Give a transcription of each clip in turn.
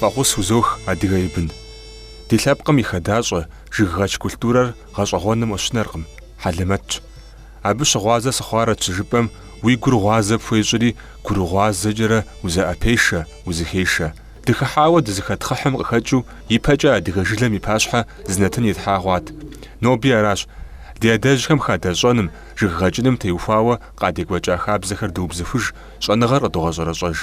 Фӏэхъус узох, адыгэ и бын! Ди лъэпкъым и хадэщӏэ жыггъэкӏ культурэр гъэщӏэгъуэным къыщынэркъым, хьэлэмэтщ. Абы щыгъуазэ сыхъуарэт щыжыпӏэм, уи гур гъуазэ пхуещӏри, гурыгъуазэкӏэрэ узэӏэпешэ, узыхешэ. Дыхыхьауэ дызыхэтхъыхьым къыхэкӏыу ипэкӏэ адыгэ жылэм и пащхьэ зы нэтын итлъхьа хъуат. Ноби аращ. Ди адэжьхэм хадэщӏэным, жыггъэкӏыным теухуауэ Къадекӏуэкӏа хабзэхэр дыубзыхуж, щӏэныгъэр къыдогъэщӏэрэщӏэж.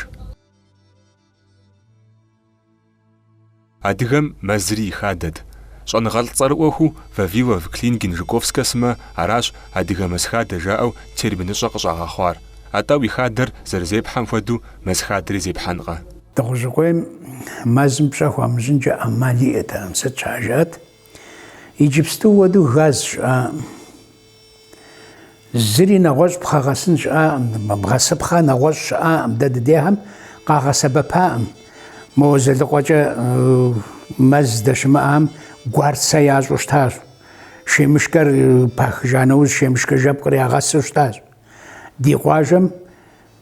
Адыгэм мэзри и хадэт. Щӏэныгъэлӏ цӏэрыӏуэхэу Вавилов, Клинген, Жуковскэ сымэ аращ адыгэ мэз хадэ жаӏэу терминыщӏэ къыщӏагъэхъуар. Атӏэ уи хадэр зэрызепхьэм хуэдэу мэз хадэри зепхьэнкъэ? Дыгъужьыкъуейм мэзым пщӏэ хуамыщӏынкӏэ ӏэмал иӏэтэкъым. Сыт щхьа жаӏэт? Иджыпсту хуэдэу газ щыӏа? Зыри нэгъуэщӏ пхъэгъэсын щыӏакъым, бгъэсыпхъэ нэгъуэщӏ щыӏакъым, дэ дыдехэм къагъэсэбэпакъым. Мо Дзэлыкъуэкӏэ мэз здэщымыӏам гуарцэ ящӏу щытащ. Шемышкэр пахыжа нэужь, шемышкэ жэпкъыр ягъэсу щытащ. Ди къуажэм.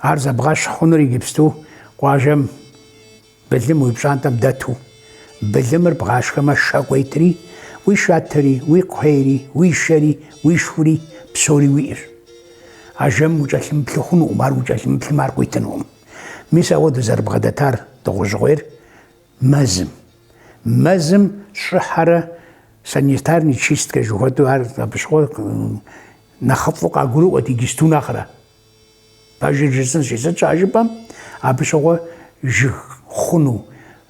Ар зэбгъэщхь хъунур иджыпсту къуажэм былым уи пщӏантӏэм дэту. Былымыр бгъашхэмэ шэ къуетри, уи шатэри, уи кхъуейри, уи шэри, уи шхури псори уиӏэщ. А жэм укӏэлъымыплъу хъунукъым, ар укӏэлъымыплъмэ ар къуитынукъым. Мис ауэ дызэрыбгъэдэтар дыгъужьыкъуейр, Мэзым. Мэзым щӏыхьэрэ санитарный чисткэ жыхуэтӏэу ар абы щыгъуэ нэхъыфӏу къагурыӏуэт иджыпсту нэхърэ. Пэжыр жысӏынщи, сыт щхьэ жыпӏэм, абы щыгъуэ жыг хъуну,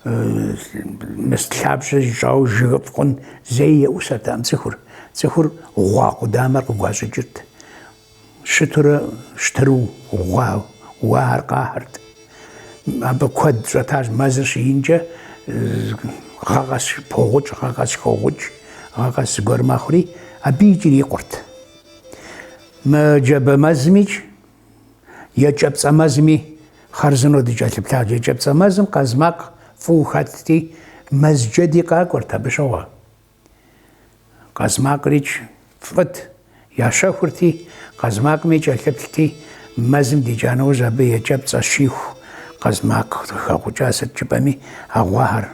мис лъабжьэ зищӏауэ жыгыфӏ хъун зэи еӏусэртэкъым цӏыхур. Цӏыхур гъуа къудамэр къыгуащӏыкӏырт. Щытурэ щытыру гъуа уар къахьырт. Абы куэд щӏэтащ мэзыр щиинкӏэ, гъэ къэс погъукӏ, гъэ къэс хогъукӏ, гъэ къэс зыгуэр мэхъури, абы икӏи ирикъурт. Мы джабэ мэзымикӏ, екӏэпцӏэ мэзыми хъарзынэу дыкӏэлъыплъащ. Екӏэпцӏэ мэзым къазмакъ фӏыуэ хэтти, мэзджэди къакӏуэрт абы щыгъуэ. Къазмакърикӏ фӏыт, ящэхурти, къазмакъми кӏэлъыплъти, мэзым дикӏа нэужь абы екӏэпцӏэ щиху къазмакъ къыхэгъукӏа сыт жыпӏэми а гъуахэр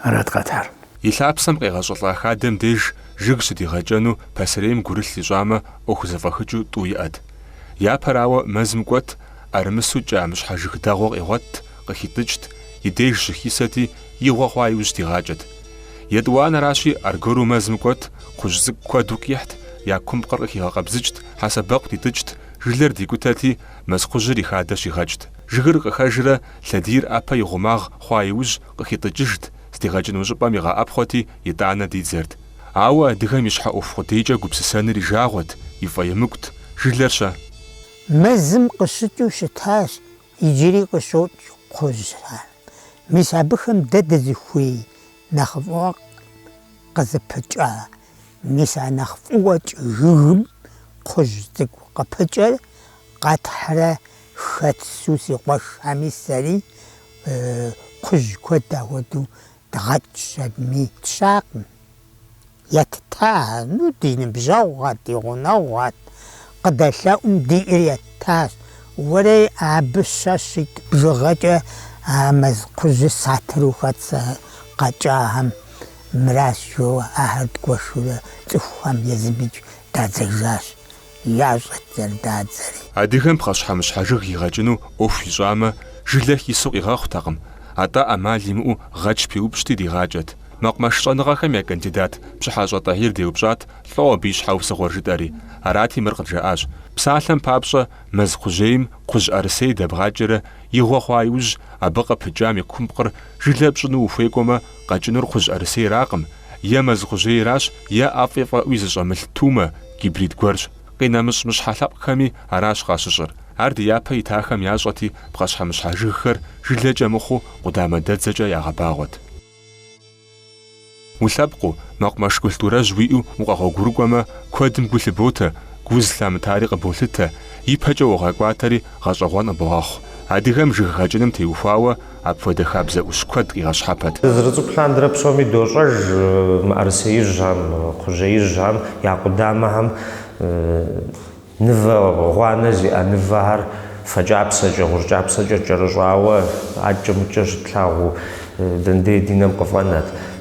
арат къэтхьар. И лъапсэм къегъэщӏылӏа хадэм деж жыг щыдигъэкӏэну пасэрейм гурылъ ищӏамэ ӏуэху зэфӏэхыкӏэу тӏу иӏэт. Япэрауэ, мэзым кӏуэт, ӏэрымысу кӏа мыщхьэ жыг дэгъуэ къигъуэтт, Къыхитӏыкӏт, и деж щыхисэти, и гъуэ хъуа иужь дигъакӏэт. Етӏуанэращи, аргуэру мэзым кӏуэт, кхъужь цӏыкӏу куэду къихьт, я кумпкъыр къыхигъэкъэбзыкӏт, хьэсэбэкъу дитӏыкӏт, жылэр дикӏутэти, мэз кхъужьыр и хадэ щигъэкӏт. Жыгыр къыхэжрэ, лъэдийр ӏэпэ и гъумагъ хъуа иужь, къыхитӏыкӏыжт, здигъэкӏыну щӏыпӏэм игъэӏэпхъуэти, итӏанэ дидзэрт. Ауэ адыгэм и щхьэ ӏуэху къудейкӏэ гупсысэныр и жагъуэт, и фӏэемыкӏут. Жылэр-щэ? Мэзым къыщыкӏыу щытащ Иджыри къыщокӏ кхъужьхэр. Мис абыхэм дэ дызыхуей нэхъыфӏыӏуэ къызыпыкӏа? Мис а нэхъ фӏыуэ кӏы жыгым кхъужь цӏыкӏу къыпыкӏэр къэтхьрэ хэтсу си къуэшхэми сэри кхъужь куэд ахуэдэу дгъэкӏыу щытми, тщакъым. Етта, ну, ди ныбжьэгъугъэт, ди гъунэгъугъэт, къыдэлъэӏум диӏэр еттащ. Уэрэ абы щэ, щитӏ бжыгъэкӏэ а мэз кхъужьыр сатыру хэтсэу къэкӏахэм, мыращ жоуэ ахэр дгуэшурэ цӏыхухэм езымикӏ дадзэжащ. ящӏэт зэрыдадзэри. Адыгэм пхъэщхьэмыщхьэ жыг игъэкӏыну ӏуэху ищӏамэ, жылэ хису къигъэхъутэкъым, атӏэ ӏэмал имыӏэу гъэч пиупщӏти дигъакӏэт. Мэкъумэш щӏэныгъэхэм я кандидат Пщыхьэщӏэ Тӏэхьир деупщӏат лӏо абы и щхьэусыгъуэр жытӏэри, арати мыр къыджаӏащ, Псалъэм папщӏэ, мэз кхъужьейм кхъужь ӏэрысей дэбгъакӏэрэ игъуэ хъуа иужь, абы къыпыкӏам и кумпкъыр жылэ пщӏыну ухуекӏуэмэ, къэкӏынур кхъужь ӏэрысейракъым, Е мэз кхъужьейращ, е ӏэфӏи фӏэӏуи зыщӏэмылъ тумэ, гибрид гуэрщ. Къинэмыщӏ мыщхьэ лъэпкъхэми аращ къащыщӏыр. Ар ди япэ итахэм ящӏэти, пхъэщхьэмыщхьэ жыгхэр жылэкӏэ мыхъуу къудамэ дэдзэкӏэ ягъэбагъуэт. Улъэпкъыу, мэкъумэш культурэжь уиӏэу укъэгъуэгурыкӏуэмэ, куэдым гу лъыботэ, гу зылъамытари къыболъытэ, ипэкӏэ уогъэкӏуатэри гъэщӏэгъуэн къыбогъэхъу. Адыгэм жыг гъэкӏыным теухуауэ, Апхуэдэ хабзэ ӏущ куэд къигъэщхьэпэт. Дызэрыцӏыкӏу лъандэрэ псоми дощӏэж мыӏэрысеижьхэм, кхъужьеижьхэм я къудамэхэм мывэ гъуанэ зиӏэ мывэхэр фэкӏапсэкӏэ, гъущӏ кӏапсэкӏэ кӏэрыщӏауэ акӏэ-мыкӏэ щытлъагъуу, дэндей ди нэм къыфӏэнэт.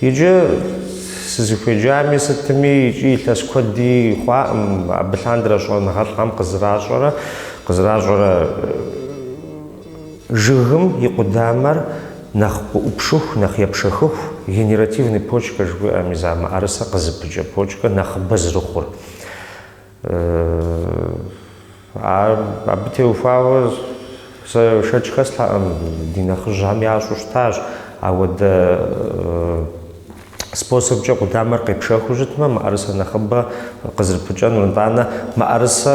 Иджы сызыхуеджами, сытми икӏи илъэс куэди хъуакъым, абы лъандэрэ щӏэныгъэлӏхэм къызэращӏэрэ, къызэращӏэрэ жыгым и къудамэр нэхъ къыӏупшыху, нэхъ епшэхыху, генеративный почка жыхуиӏэ, мис а мыӏэрысэ къызыпыкӏэ почка нэхъыбэ зэрыхъур. Ар абы теухуауэ сэ шэч хэслъэкъым, ди нэхъыжьхэм ящӏу щытащ. Апхуэдэ способкӏэ къудамэр къепшэхыу щытмэ, мыӏэрысэ нэхъыбэ къызрыпыкӏэнур, нтӏанэ мыӏэрысэ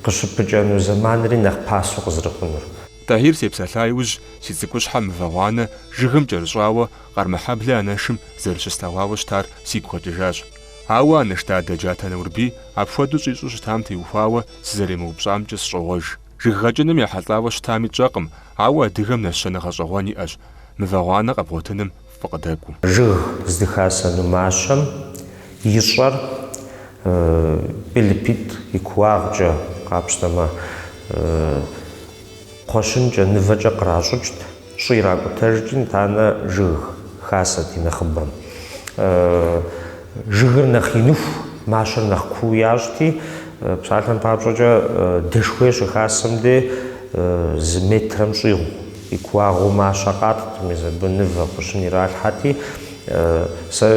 къыщыпыкӏэну зэманри нэхъ пасэу къызрыхъунур. Тӏэхьир сепсэлъа иужь, си цӏыкӏущхьэ мывэ гъуанэ жыгым кӏэрыщӏауэ Къармэхьэблэ анэшым зэрыщыслъэгъуауэ щытар сигу къэкӏыжащ. Ауэ, анэш дадэ Джатэ Наурбий, апхуэдэу щӏищӏу щытам теухуауэ сызэремыупщӏамкӏэ сщӏогъуэж. Жыггъэкӏыным ехьэлӏауэ щытами тщӏэкъым, ауэ адыгэм нэщэнэ гъэщӏэгъуэн иӏэщ, мывэ гъуанэ къэбгъуэтыным фӏы къыдэкӏуэу. Жыг здыхасэну мащэм и щӏэр бел ипитӏ и кууагъкӏэ, къапщтэмэ, кхъуэщынкӏэ, мывэкӏэ къращӏыкӏт. Щӏы иракӏутэжти, нтӏанэ жыгыр хасэт и нэхъыбэм. Жыгыр нэхъ иныху, мащэр нэхъ куу ящӏти, псалъэм папщӏэкӏэ дэшхуей щыхасэм де зы метрэм щӏигъу и кууагъыу мащэ къатӏт, мис абы мывэ кхъуэщын иралъхьэти, сэ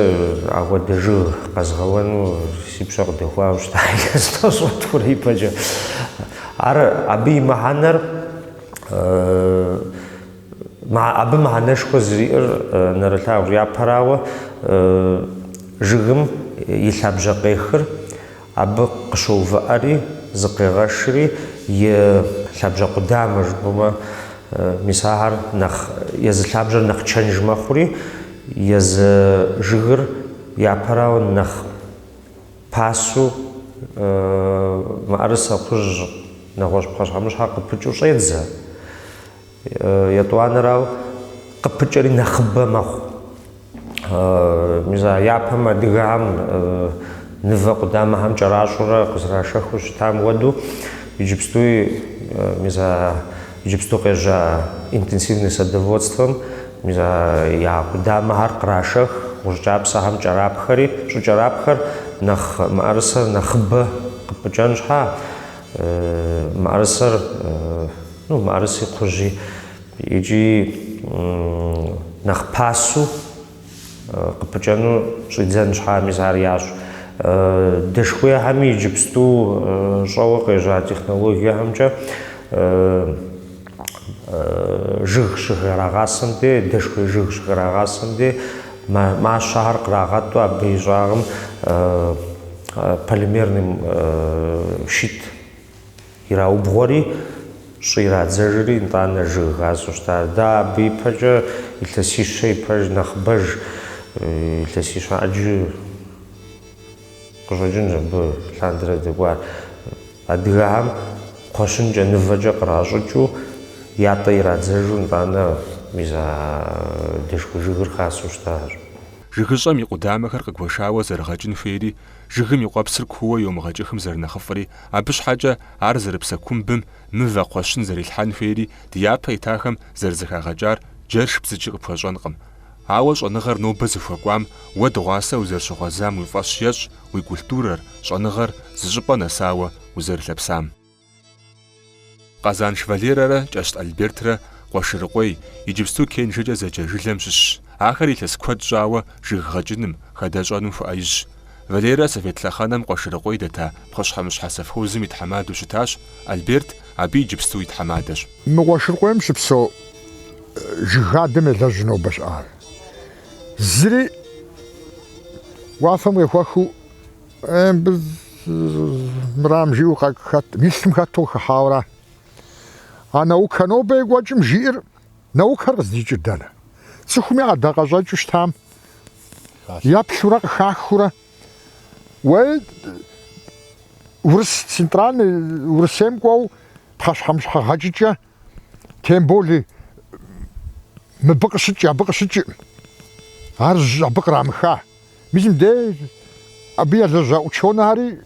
ахуэдэ жыг къэзгъэуэну си пщэ къыдэхуауэ щыта илъэс тӏощӏрэ тхурэ ипэкӏэ. Ар, абы и мыхьэнэр. Абы мыхьэнэшхуэ зэриӏэр нэрылъагъущ. Япэрауэ, жыгым и лъабжьэ къехыр абы къыщоувыӏэри, зыкъегъэшри, и лъабжьэ къудамэ жыпӏэмэ, мис ахэр нэхъ, езы лъабжьэр нэхъ чэнж мэхъури, езы жыгыр япэрауэ нэхъ. Пасэу мыӏэрысэ кхъужь нэгъуэщӏ пхъэщхьэмыщхьэ къыпыкӏыу щӏедзэ. Етӏуанэрауэ, къыпыкӏэри нэхъыбэ мэхъу. Мис а япэм адыгэхэм мывэ къудамэхэм кӏэращӏэурэ къызэрашэхыу щытам хуэдэу, иджыпстуи мис а Иджыпсту къежьа интенсивное садоводствэм я къудамэхэр кърашэх, гъущӏ кӏапсэхэм кӏэрапхэри, щӏыкӏэрапхэр нэхъ мыӏэрысэр нэхъыбэ къыпыкӏэн щхьа, мыӏэрысэр, ну, мыӏэрыси кхъужьи, икӏи нэхъ пасэу. Къыпыкӏэну щӏидзэн щхьа мис ар ящӏ. Дэшхуехэми иджыпсту щӏэуэ къежьа технологиехэмкӏэ жыг щыхрагъасэм де, дэшхуей жыг щыхрагъасэм де мащэхэр кърагъэтӏу абы и щӏагъым полимерный щит. Ираубгъуэри, щӏы ирадзэжри, нтӏанэ жыг хасэу щытащ. Дэ абы ипэкӏэ илъэсищэ ипэж нэхъыбэж, илъэсищэ ӏэджи къыщӏэкӏынщ абы лъандэрэ дэкӏуар. Адыгэхьэм кхъуэщынкӏэ, нывэкӏэ къращӏыкӏыу, ятӏэ ирадзэжу, нтӏанэ мис а дэшхэ жыгыр хасэу щытащ. Жыгыщӏэм и къудамэхэр къыгуэшауэ зэрыгъэкӏын хуейри, Жыгым и къуэпсыр кууэ йомыгъэкӏыхым зэрынэхъыфӏри, абы щхьэкӏэ ар зэрыпсэ кумбым мывэ кхъуэщын зэрилъхьэн хуейри ди япэ итахэм зэрызэхагъэкӏар джэш бдзыкӏи къыпхуэщӏэнкъым. Ауэ щӏэныгъэр нобэ зыхуэкӏуам уэ дыгъуасэ узэрыщыгъуэзам уи фӏэщ ещӏ уи культурэр, щӏэныгъэр зыщӏыпӏэ нэсауэ узэрылъэпсам. Къэзанш Валерэрэ Кӏэщт Альбертрэ Къуэшырыкъуей, иджыпсту Кенжэкӏэ зэджэ жылэм щыщщ. Ахэр илъэс куэд щӏауэ жыг гъэкӏыным, хадэщӏэным хуэӏэижьщ. Валерэ совет лъэхъэнэм Къуэшырыкъуей дэта пхъэщхьэмыщхьэ совхозым и тхьэмадэу щытащ, Альберт абы иджыпсту и тхьэмадэщ. Мы Къуэшырыкъуейм щыпсэу жыг хадэм елэжьу нобэ щыӏар зыри уафэм къехуэхыу. Э, мыбы мырам жиӏэу хэт, мы лъым хэту къыхыхьауэра. А наукэ нобэ екӏуэкӏым жиӏэр наукэр къыздикӏыр дэнэ? Цӏыхум и ӏэдакъэщӏэкӏыу щытам еплъурэ къыхахыурэ уэ урыс центральный Урысейм кӏуэу пхъэщхьэмыщхьэ гъэкӏыкӏэ Тем более мыбы къыщыкӏ, абы къыщыкӏыӏым, ар абы кърамыха. Мис мыдей абы елэжьа ученыхьэри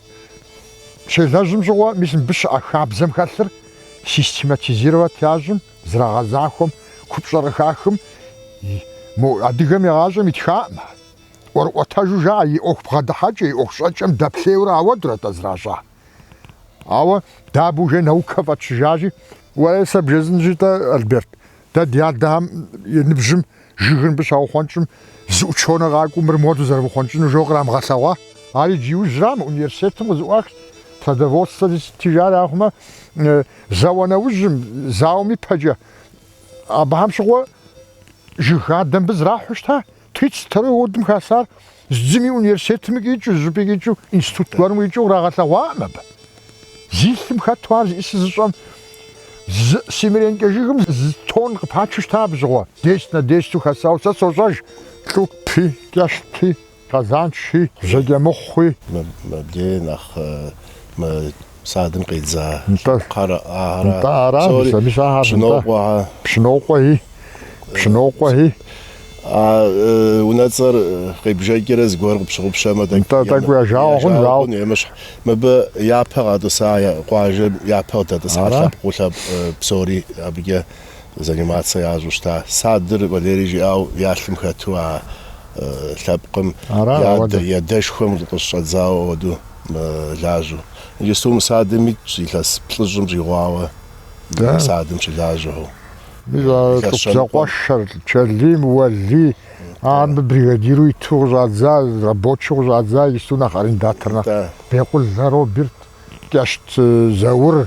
щелэжьым щыгъуэ, мис мыбы щыӏэ хабзэм хэлъыр систематизировать ящӏым, зрагъэзахуэм, купщӏэр къыхахым, мо адыгэм игъащӏэм итхаӏым ар. ӏуэрыӏуэтэжу жаӏэ и ӏуэху бгъэдыхьэкӏэ, и ӏуэху щӏэкӏэм дэплъейуэрэ ауэдурэ-тӏэ зращӏар. Ауэ дэ абы уже наукэ фӏэтщыжащи, уэ сэ бжесӏэнщи-тӏэ, Альберт, дэ ди адэхэм и ныбжьым жыгыр мыбы щаухъуэнщӏым зы ученый къакӏуэу мыр моду зэрывухъуэнщӏыну жо кърамыгъэлъэгъуа? Ар иджы иужьрам, университетым къызэӏуахщ, садоводствэ зыщытыжар ахъумэ, зауэ нэужьым, зауэм ипэкӏэ. Абыхэм щыгъуэ жыг хадэ мыбы зрахьэу щыта? Тридцать второй годым хасар зыми университетми къикӏыу, зыщӏыпӏи къикӏыу, институт гуэрым къикӏыу кърагъэлъэгъуаӏым абы. Зи лъым хэту ар зыӏи сызыщӏэм, зы семеренкэ жыгым зы тон къыпачу щыта абы щыгъуэ. Десять на десяту хасауэ сэ сощӏэж, Лӏупи, Кӏэщти, Къэзанши, Жьэкӏэмыхъуи. Мыбдеи нэхъ мы садым къидза къарэӏагъэрат. Нтӏэ аращ, зэми щахьащ. Пщынокъуэхьэ. Пщынокъуэхьи. Пщынокъуэхьи. А унэцӏэр къебжэкӏэрэ зыгуэр къыпщыгъупщэмэ, тӏэкӏу. Нтӏэ, тӏэкӏу я жагъуэ хъун, жагъуэ. Емыщхь, мыбы япэ къатӏыса къуажэм япэ къыдэтӏысхьа лъэпкъыу лъэпкъ псори абыкӏэ. занимацэ ящӏу щыта. Садыр Валерий жиӏауэ я лъым хэту а лъэпкъым я адэшхуэм къыщӏэдзауэ хуэдэу мэлажьэу. Иджысту мы садым итщ илъэс плӏыщӏым щӏигъуауэ мы садым щылажьэу. Зэкъуэшэр Чэлим Уэлий, а мыбы бригадиру иту къыщӏадза, рабочэу къыщӏадза иджысту нэхъ арендатор нэхъ Бекъул Роберт, Кӏэщт Заур,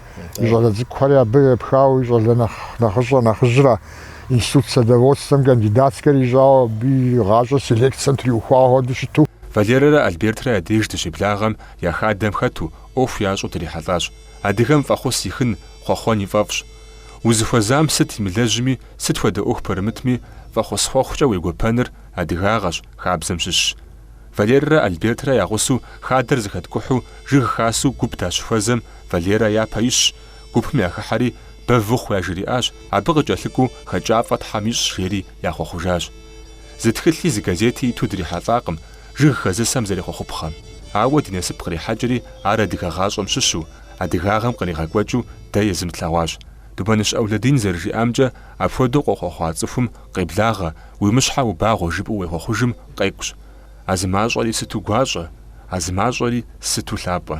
И щӏалэ цӏыкӏухэри абы епхауэ и щӏалэ нэхъ нэхъыщӏэ нэхъыжьра институт садоводствэм кандидатскэр ищӏауэ абы и гъащӏэр селекцэм триухуауэ хуэдэу щыту. Валерэрэ Альбертрэ я деж дыщеблагъэм я хадэм хэту, ӏуэху ящӏу дырихьэлӏащ. Адыгэм фӏэхъус ихын, хъуэхъуэн и фӏэфӏщ. Узыхуэзам сыт имылэжьми, сыт хуэдэ ӏуэху пэрымытми, фӏэхъус хъуэхъукӏэ уегуэпэныр адыгагъэщ, хабзэм щыщщ. Валерэрэ Альбертрэ я гъусэу хадэр зэхэткӏухьу жыг хасэу гуп дащыхуэзэм Валерэ япэ ищщ, гупым яхыхьэри, Бэв ухъу яжриӏащ, абы къыкӏэлъыкӏуэу хэкӏафӏэ Тхьэм ищӏ жери яхъуэхъужащ. Зы тхылъи зы газети иту дрихьэлӏакъым жыг хэзысэм зэрехъуэхъупхъэм. Ауэ ди насып кърихьэкӏри ар адыгэ гъащӏэм щыщу, адыгагъэм къригъэкӏуэкӏыу дэ езым тлъэгъуащ. Думэныщ ӏэулэдин зэрыжиӏамкӏэ, апхуэдэу къохъуэхъуа цӏыхум Къеблагъэ, уи мыщхьэ убагъуэ жыпӏэу уехъуэхъужым къекӏущ, А зы мащӏэри сыту гуащӏэ, а зы мащӏэри сыту лъапӏэ.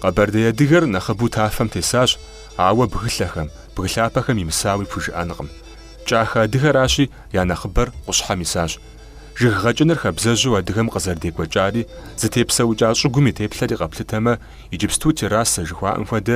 Къэбэрдей адыгэр нэхъыбэу тафэм тесащ, ауэ бгылъэхэм, бгы лъапэхэм имысауи пхужыӏэнкъым. Кӏахэ адыгэращи, я нэхъыбэр къущхьэм исащ. Жыг гъэкӏыныр хабзэжьу адыгэм къызэрыдекӏуэкӏари, зытепсэукӏа щӏыгум и теплъэри къэплъытэмэ, иджыпсту террасэ жыхуаӏэм хуэдэ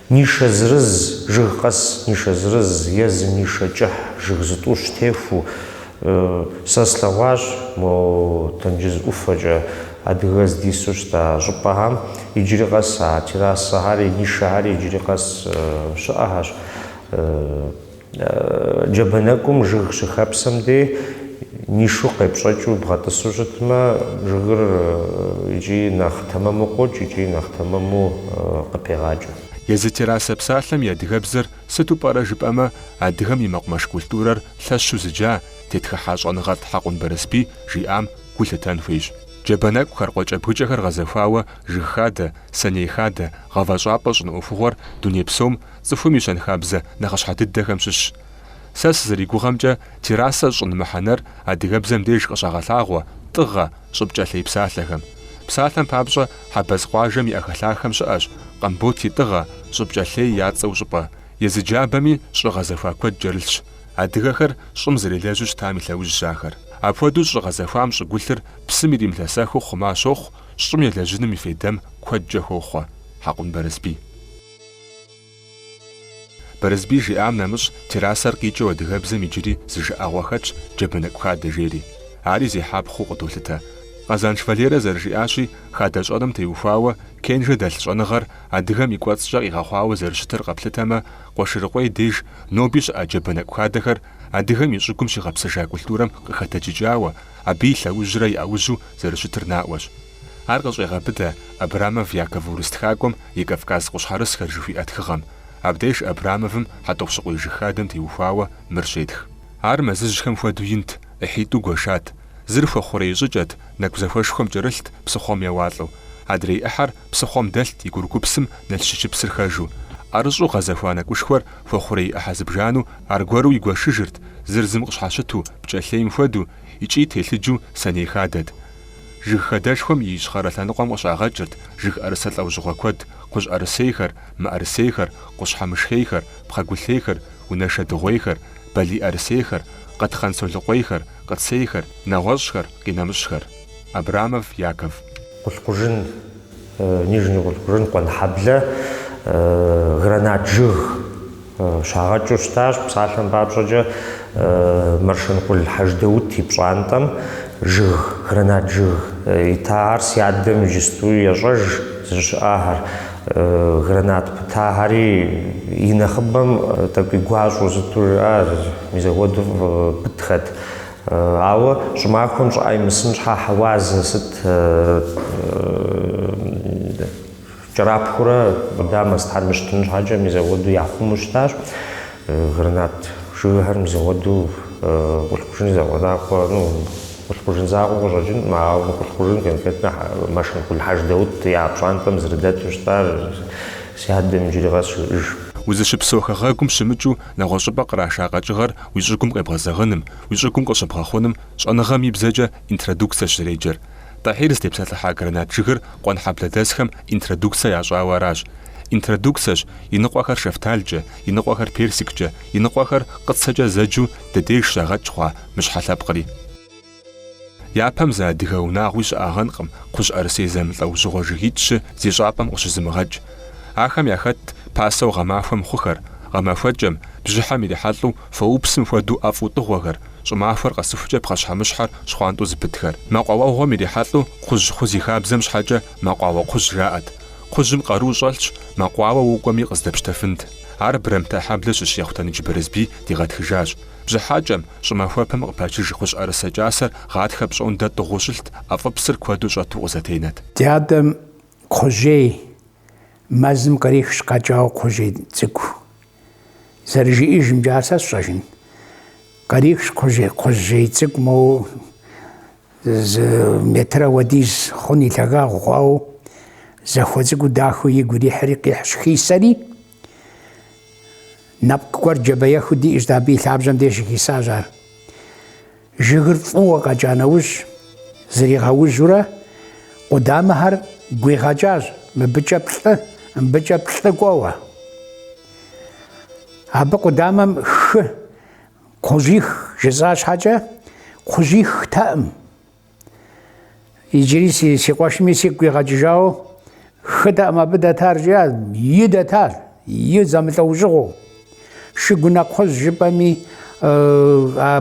Нишэ зырыз, жыг къэс нишэ зырыз е зы нишэ кӏыхь жыг зытӏущ техуэу. Сэ слъэгъуащ мо тенджыз ӏуфэкӏэ адыгэ здису щыта щӏыпӏэхэм. Иджыри къэс а террасэхэр, нишэхэр иджыри къэс щыӏэхэщ. Джабэ нэкӏум жыг щыхэпсэм дей нишу къепщӏэкӏыу бгъэтӏысу щытмэ, жыгыр икӏи нэхъ тэмэму къокӏ, икӏи нэхъ тэмэму къыпегъакӏэ. Езы террасэ псалъэм и адыгэбзэр сыту пӏэрэ жыпӏэмэ, адыгэм и мэкъумэш культурэр лъэщу зыджа, тетхыхьа щӏэныгъэлӏ Хьэкъун Барэсбий жиӏам гу лъытэн хуейщ. Джабэ нэкӏухэр, къуэкӏэбгыкӏэхэр гъэзэхуауэ жыг хадэ, сэней хадэ, гъавэщӏапӏэ щӏын ӏуэхугъуэр дуней псом, Цӏыхум и щэнхабзэ нэхъыщхьэ дыдэхэм щыщщ. Сэ сызэригугъэмкӏэ, террасэ щӏын мыхьэнэр адыгэбзэм деж къыщагъэлъагъуэ, тӏыгъэ, щӏыпкӏэлъей псалъэхэм. Псалъэм папщӏэ, Хьэбэз къуажэм и ӏэхэлъахэм щыӏэщ Къамбот и тӏыгъэ, щӏыпкӏэлъей я цӏэу щӏыпӏэ. Езы джабэми щӏы гъэзэхуа куэд кӏэрылъщ. Адыгэхэр щӏым зэрелэжьу щытам и лъэужьщ ахэр. Апхуэдэу щӏы гъэзэхуам щӏыгулъыр псым иримылъэсэхыу хъума щохъу, щӏым елэжьыным и фейдэм куэдкӏэ хохъуэ. Хьэкъун Бэрысбий. Бэрысбий жиӏам нэмыщӏ террасэр къикӏыу адыгэбзэм иджыри зы жыӏэгъуэ хэтщ Джэбэнэкӏу хадэ жери. Ари зехьэпхъэу къыдолъытэ. Къэзанш Валерэ зэрыжиӏащи, хадэ щӏэным теухуауэ, Кенжэ дэлъ щӏэныгъэр адыгэм и кӏуэцӏкӏэ къигъэхъуауэ зэрыщытыр къэплъытэмэ, Къуэшырыкъуей деж ноби щыӏэ Джэбэнэкӏу хадэхэр адыгэм и щӏыгум щигъэпсэжа культурэм къыхэтэджыкӏауэ, абы и лъэужьрэ и ӏэужьу зэрыщытыр наӏуэщ. Ар къыщӏегъэбыдэ Абрамов Яков урыс тхакӏуэм и Кавказ къущхьэрысхэр жыхуиӏэ тхыгъэм. Абдеж Абрамовым Хьэтӏохъущыкъуей жыг хадэм теухуауэ мыр щетх. Ар мэзыжьхэм хуэдэу инт, ӏыхьитӏу гуэшат. Зыр хуэхъурей щӏыкӏэт, нэкӏу зэхуэшхуэм кӏэрылът псыхъуэм еуалӏэу. Адрей ӏыхьэр псыхъуэм дэлът и курыкупсэм Налщычыпсыр хэжу. ӏэрыщӏу гъэзэхуа нэкӏушхуэр хуэхъурей ӏыхьэ зыбжанэу аргуэру игуэшыжырт, зыр зым къыщхьэщыту, пкӏэлъейм хуэдэу, икӏи телъыджу сэней хадэт. Жыг хадэшхуэм и ищхъэрэ лъэныкъуэм къыщагъэкӏырт жыг ӏэрысэ лӏэужьыгъуэ куэд, кхъужь ӏэрысейхэр, мыӏэрысейхэр, къущхьэмышхейхэр, пхъэгулъейхэр, унэшэ дыгъуейхэр, балий ӏэрысейхэр, къэтхъэн солыкъуейхэр, къыцейхэр, нэгъуэщӏхэр, къинэмыщӏхэр. Абрамов, Яков. Къулъкъужын. Нижний Къулъкъужын Къуэнхьэблэ гранат жыг щагъэкӏыу щытащ. Псалъэм папщӏэкӏэ, Маршэнкъул Хьэждэут и пщӏантӏэм жыг, гранат жыг итахэр си адэм иджысту ещӏэж зыщыӏахэр. Гранат пытахэри и нэхъыбэм тӏэкӏуи гуащӏэу сыту жыӏэ, мис апхуэдэу пытхэт. Ауэ щӏымахуэм щӏыӏэ имысын щхьэ хьэуазэ сыт кӏэрапхурэ къудамэ сытхэр мыщтын щхьэкӏэ мис апхуэдэу яхъуму щытащ. Гранат жыгхэр мис апхуэдэу Къулъкъужын зэгъуэнакъуэ, ну, Къулъкъужын закъуэ къыщӏэкӏынкъым, ауэ Къулъкъужын конкретно Маршэнкъул Хьэждэут я пщӏантӏэм зэрыдэту щытар си адэм иджыри къэс ещӏэж. Узыщыпсэу хэгъэгум щымыкӏыу Нэгъуэщӏыпӏэ къраша къэкӏыгъэр уи щӏыгум къебгъэзэгъыным, уи щӏыгум къыщыбгъэхъуным щӏэныгъэм и бзэкӏэ интродукцэщ зэреджэр. Тӏэхьир здепсэлъыхьа гранат жыгыр Къуэнхьэблэдэсхэм интродукцэ ящӏауэ аращ. Интродукцэщ, иныкъуэхэр шэфталкӏэ, иныкъуэхэр персиккӏэ, иныкъуэхэр къыцэкӏэ зэджу ди деж щагъэкӏ хъуа мыщхьэ лъэпкъри. Япэм зы адыгэ унагъуи щыӏагъэнкъым Кхъужьӏэрысей зэмылӏэужьыгъуэ жыгитӏщы зи щӏапӏэм къыщызымыгъэкӏ. Ахэм яхэтт пасэу гъэмахуэм хъухэр, гъэмахуэкӏэм, бжьыхьэм ирихьэлӏэу фоупсым хуэдэу ӏэфӏу тӏыгъуэхэр, щӏымахуэр къэсыхукӏэ пхъэщхьэмыщхьэр щхъуантӏэу зыпытхэр. Мэкъуауэгъуэм ирихьэлӏэу кхъужь хъу зи хабзэм щхьэкӏэ Мэкъуауэ кхъужь жаӏэт. Кхъужьым къару щӏэлъщ, мэкъуауэ укӏуэми къыздэпщтэфынт. Ар Бырэмтэ хьэблэ щыщ Ехъутэныдж Бэрысбий дигъэтхыжащ. Бжьыхьэкӏэм, щӏымахуэпэм къыпачыж кхъужьӏэрысэ кӏасэр гъатхэ пщӏондэ тӏыгъуу щылът, ӏэфӏыпсыр куэду щӏэту къызэтенэт. Ди адэм кхъужьей мэзым кърихщ къэкӏауэ кхъужьей цӏыкӏу. Зэрыжиӏэжымкӏэ ар сэ сщӏэжын. Кърихщ кхъужьей, кхъужьей цӏыкӏу моу зы метрэ уэдиз хъун и лъагагъ хъуауэ, захуэ цӏыкӏуу дахэу игу ирихьри къихьщ хисэри. Нэпкъ гуэр джабэехыу диӏэщ, дэ абы и лъабжьэм деж щыхисащ ар. Жыгыр фӏыуэ къэкӏа нэужь, зригъэужьурэ, къудамэхэр гуигъэкӏащ, мыбыкӏэ плӏы, мыбыкӏэ плӏы кӏуэуэ. Абы къудамэм хы, кхъужьих жысӏа щхьэкӏэ, кхъужьихтэкъым. Иджыри си си къуэшми сигу къигъэкӏыжауэ хытэкъым абы дэтар жиӏа, и дэтар, и зэмылӏэужьыгъуэу. Шыгунэ кхъужь жыпӏэми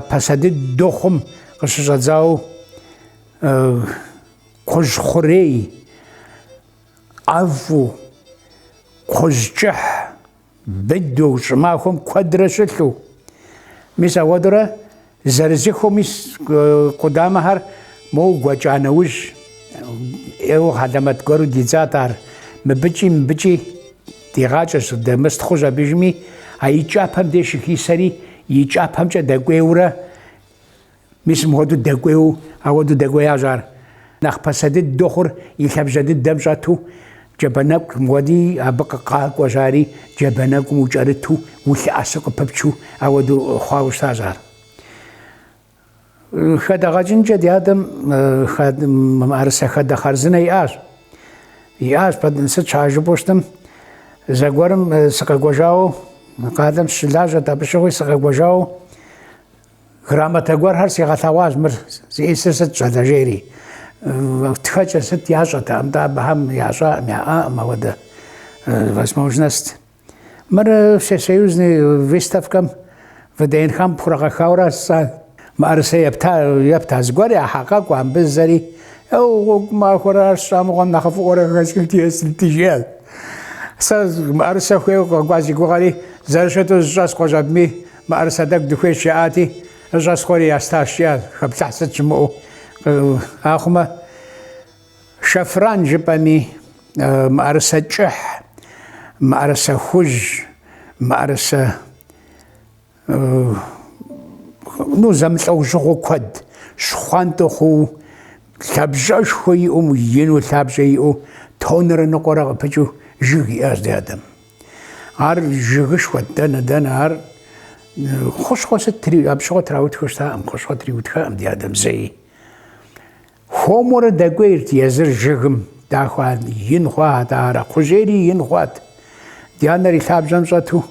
пасэ дыдэу хъум къыщыщӏэдзауэ кхъужь хъурей, ӏэфӏу, кхъужь кӏыхь, Быдэу, щӏымахуэм куэдрэ щылъу. Мис ауэдурэ зэрызыхуэми къудамэхэр моу гуэкӏа нэужь, ӏейуэ хьэлэмэт гуэру дидзат ар. Мыбыкӏи, мыбыкӏи дигъакӏэщ, дэмыстхъущ абы жыми, а и кӏапэм деж щыхисэри, и кӏапэмкӏэ дэкӏуейуэрэ. Мис мыгъуэду дэкӏуейуэ ауэду дэкӏуеящ ар. Нэхъ пасэ дыдэу хъур и лъабжьэ дыдэм щӏэту джабэ нэкӏу мыгъуэди абы къыкъакӏуэщ ари, джабэ нэкӏум укӏэрыту улъэӏэсу къыпыпчу ауэду хъуауэ щытащ ар. Хадэгъэкӏынкӏэ ди адэм мыӏэрысэ хадэ хъарзынэ иӏащ. Иӏащ, сыт щхьа жыпӏэу щытым, зэгуэрым сыкъэкӏуэжауэ къалэм сыщылажьэрт, абы щыгъуи сыкъэкӏуэжауэ, Грамотэ гуэрхэр сигъэлъэгъуащ мыр зищӏысыр сыт щӏалэ жери. Тхэкӏэ сыт ящӏэтэкъым, тӏэ абыхэм ящӏакъым, яӏакъым ауэдэ возможность. Мыр всесоюзный выставкэм ВДНХ-м пхурагъэхьауэрэ сэ мыӏэрысэ епта, епта зыгуэр яхьэкъэкӏу абы зэри гъуэгу махуэрэ ар сщӏамыгъуэм нэхъыфӏыӏуэрэ жиӏащ. Сэ мыӏэрысэ хуейуэ къэкӏуа зи гугъэри зэрыщыту зыщӏэс къожьэбми Мыӏэрысэ тӏэкӏу дыхуейщ жаӏати, щӏэсхъуэри ястащ, жиӏащ, хэплъыхь сыт щымыӏэу. Ахъумэ, шэфран жыпӏэми, мыӏэрысэ кӏыхь, мыӏэрысэ хужь, мыӏэрысэ, ну, зэмылӏэужьыгъуэ куэд, щхъуантӏэ хъууэ, лъабжьэшхуэ иӏэу, ину лъабжьэ иӏэу, тоннрэ ныкъуэрэ къыпыкӏыу жыг иӏащ ди адэм. Ар жыгышхуэт, дэнэ-дэнэ ар хущхъуэ сытри, абы щыгъуэ траутхэу щытаӏым, хущхъуэ триутхаӏым ди адэм зэи. Хуэмурэ дэкӏуейрт езыр жыгым, дахэу ин хъуат ари, кхъужьейри ин хъуат. Ди анэр и лъабжьэм щӏэту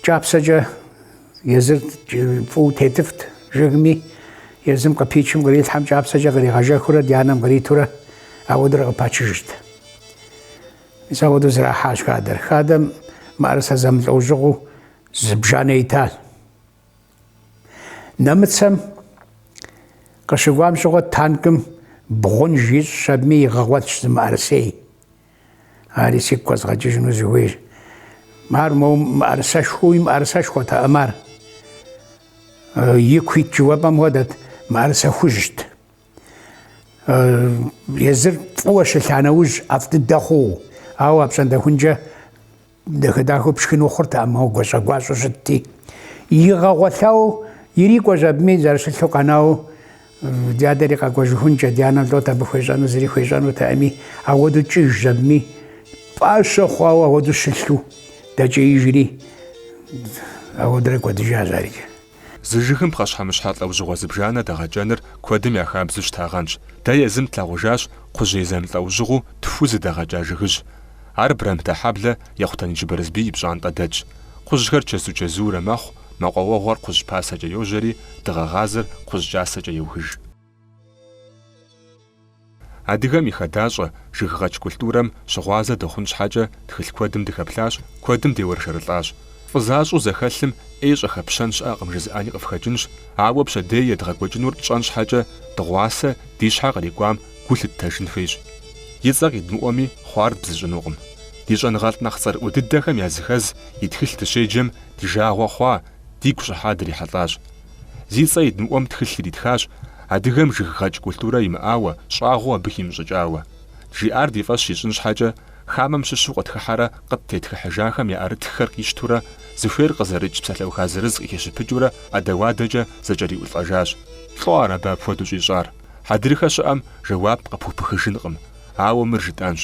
кӏапсэкӏэ езыр фӏыуэ тетыфт жыгми, езым къыпичым кърилъхьэм кӏапсэкӏэ къригъэжэхурэ ди анэм къритурэ ауэдурэ къыпачыжырт. Мис апхуэдэу зрахьащ хадэр. Хадэм мыӏэрысэ зэмылӏэужьыгъуэу зыбжанэ итащ. Нэмыцэм къыщыкӏуам щыгъуэ танкым бгъунж ищӏщ абыми, игъэгъуэлъщ зы мыӏэрысей. Ари сигу къэзгъэкӏыжыну зыхуейр. Ар моуэ мыӏэрысэшхуэуи мыӏэрысэшхуэтэкъым ар. Ику ит жыуэпӏэм хуэдэт, мыӏэрысэ хужьт. Езыр фӏыуэ щылъа нэужь ӏэфӏ дыдэ хъууэ, ауэ апщӏондэхункӏэ дахэ-дахэу пшхыну хъуртэкъым, ауэ гуащӏэ-гуащӏэу щытти. Игъэгъуэлъауэ ирикӏуэщ абыми зэрыщылъу къэнауэ ди адэри къэкӏуэжыхункӏэ, ди анэм лӏот абы хуещӏэну, зыри хуещӏэнутэкъыми, ауэдэу кӏыжщ абыми. Пӏащэ хъуауэ ауэдэу щылъу дэкӏеижри, ауэдэрэ кӏуэдыжащ арикӏ. Зы жыгым пхъэщхьэмыщхьэ лӏэужьыгъуэ зыбжанэ дэгъэкӏэныр куэдым я хабзэу щытагъэнщ. Дэ езым тлъагъужащ кхъужьей зэмылӏэужьыгъуэу тху зыдэгъэкӏа жыгыжь. Ар Брамтэхьэблэ Ехъутэныдж Барысбий и пщӏантӏэ дэтщ. Кхъужьхэр чэзу-чэзуурэ мэхъу, мэкъуауэгъуэр кхъужь пасэкӏэ йожьэри, дыгъэгъазэр кхъужь кӏасэкӏэ еухыж. Адыгэм и хадащӏэ, жыггъэкӏ культурэм щыгъуазэ дыхъун щхьэкӏэ тхылъ куэдым дыхэплъащ, куэдым деуэршэрылӏащ. Фӏы защӏу зэхэлъым ӏей щӏэхэпщэн щыӏэкъым жызыӏэни къыфхэкӏынщ, ауэ пщэдей едгъэкӏуэкӏынур тщӏэн щхьэкӏэ дыгъуасэ ди щхьэ кърикӏуам гу лъыттэжын хуейщ. И цӏэ къидмыӏуэми хъуар дбзыщӏынукъым. Ди щӏэныгъэлӏ нэхъ цӏэрыӏуэ дыдэхэм языхэз и тхылъ дыщеджэм ди жагъуэ хъуа, дигу щӏыхьа дрихьэлӏащ. Зи цӏэ идмыӏуэм тхылъ иритхащ, адыгэм жыггъэкӏ культурэ имыӏауэ, щӏагъуэу абы химыщӏыкӏауэ. Жиӏар ди фӏэщ ищӏын щхьэкӏэ, хамэм щыщу къытхыхьэрэ къыттетхыхьыжахэм я ӏэрытххэр къищтурэ, зыхуейр къызэрыкӏ псалъэуха зырыз къыхищыпыкӏыурэ ӏэдэуадэкӏэ зэкӏэриӏулӏэжащ. Лӏо ар абы апхуэдэу щӏищӏар? Хьэдрыхэ щыӏэм жэуап къыпхупыхыжынкъым, ауэ мыр жытӏэнщ.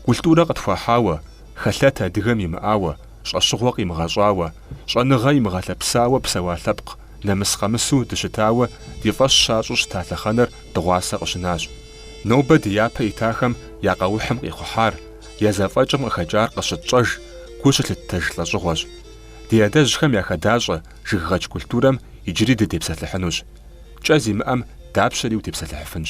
Культурэ къытхуахьауэ, хэлъэт адыгэм имыӏауэ, щӏэщыгъуэ къимыгъэщӏауэ, щӏэныгъэ имыгъэлъэпсауэ псэуа лъэпкъ, нэмыс къэмысу дыщытауэ ди фӏэщ щащӏу щыта лъэхъэнэр дыгъуасэ къыщынащ. Нобэ ди япэ итахэм я къэухьым къихъухьар, я зэфӏэкӏым къыхэкӏар къыщытщӏэж, гу щылъыттэж лӏэщӏыгъуэщ. Ди адэжьхэм я хадэщӏэ-жыггъэкӏ культурэм иджыри дытепсэлъыхьынущ. Кӏэ зимыӏэм дапщэри утепсэлъыхьыфынщ.